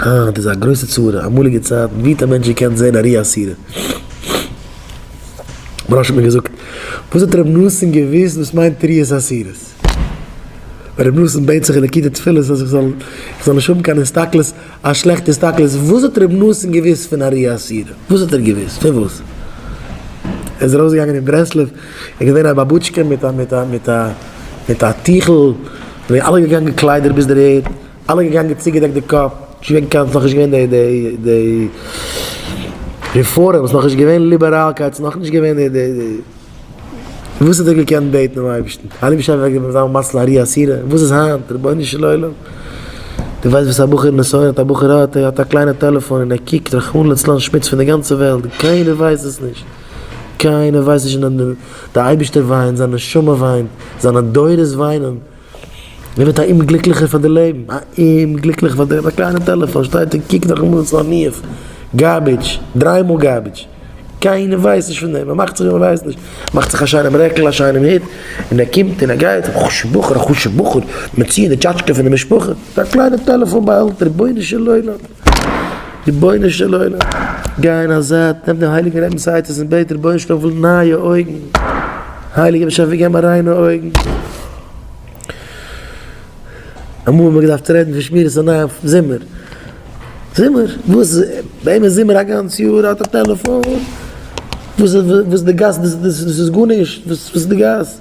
אה, דאס איז א גרויסע צרה, אמאליגע צייטן, ווי האט א מענטש געקענט זען ארי אסירה? מרא ש האט מיר געזאגט, וואס האט רבי נתן געוואוסט וואס מיינט ארי אסירה? ווען רבי נתן בעט זיך אין די כיתה תפילות אז איך זאל איך זאל נישט האבן קיין הסתכלות, א שלעכטע הסתכלות, וואס האט רבי נתן געוואוסט פון ארי אסירה? וואס האט ער געוואוסט? פון וואס? ער איז ארויסגעגאנגען אין ברסלב, ער איז געווען א באבוטשקע מיט א מיט א מיט א מיט א טיכל, זענען אלע געגאנגען קליידער ביז דער ערד. אלע געגאנגען צוגעדעקט די קאפ, נישט וועגן קיין, ס'נאך נישט געווען די די די רעפארם, ס'נאך נישט געווען ליבעראלקייט, ס'נאך נישט געווען די די די, וואס האט ער געקענט בעטן דעם אייבערשטן? אלי' משאש וועט געבן זיין מזל ארי אסירה, וואס איז היינט? רבונו של עולם! דו ווייסט וואס א בחור נסיון האט? א בחור האט, ער האט א קליינע טעלעפאן און ער קוקט רחמנא לצלן שמוץ פון די גאנצע וועלט, קיינער ווייסט עס נישט, קיינער ווייסט נישט, נאר די אייבערשטער וויינט, זיין נשמה וויינט, זיינע דורות וויינען, מען ווערט א אומגליקליכער פאר די לעבן, א אומגליקליכער פאר דעם, א קליינע טעלעפאן שטייט און קוקט נאכן מאס אןיף גארבידזש, דריי מאל גארבידזש, קיינער ווייסט נישט פון דעם, מען מאכט זיך ווי מען ווייסט נישט, מען מאכט זיך א שיינעם רעקל, א שיינעם הוט, און ער קומט און ער גייט, א חשובע בחור, א חשובע בחור, מען ציעט די טשאטשקע פון די משפחה, א קליינע טעלעפאן באהעלטער, רבונו של עולם. רבונו של עולם, גיי אין א זייט, נעם דעם הייליגן רבינ'ס עצות און בעט דער רבונו של עולם פון נייע אויגן, הייליגער באשעפער גיב מיר ריינע אויגן. אמאל האט מען געדארפט רעדן פון שמירת עיניים אויפן זומער, זומער? וואס? ביי אים איז זומער א גאנץ יאר, ער האט א טעלעפאן, וואס איז די גאס, דאס איז גארנישט, וואס איז די גאס?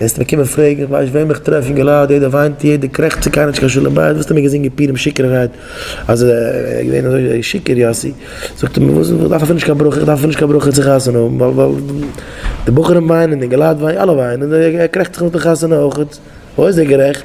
וועסט מיר קומען פרעגן איך ווייס וועם איך טרעף אין געלאד יעדער וויינט יעדער קרעכצט ס'איז קיינער נישט קיין שלום בית וואסטו מיר געזינגען פירים שיכור'ערהייט אז ער איז געווען אזוי שיכור יאסי זאגט ער מיר וואס איך דארף אפילו נישט קיין ברכה איך דארף אפילו נישט קיין ברכה צו חתונה האבן ווייל די בחורים וויינען אין געלאד וויינט אלע וויינען ער קרעכצט זיך נאך די חתונה אויכעט וואו איז ער גערעכט?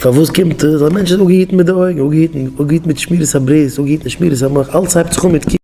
פארוואס קומט עס? א מענטש איז אפגעהיטן מיט די אויגן, אפגעהיטן מיט שמירת הברית, אפגעהיטן מיט שמירת המח, אלעס הייבט זיך אן מיט ק.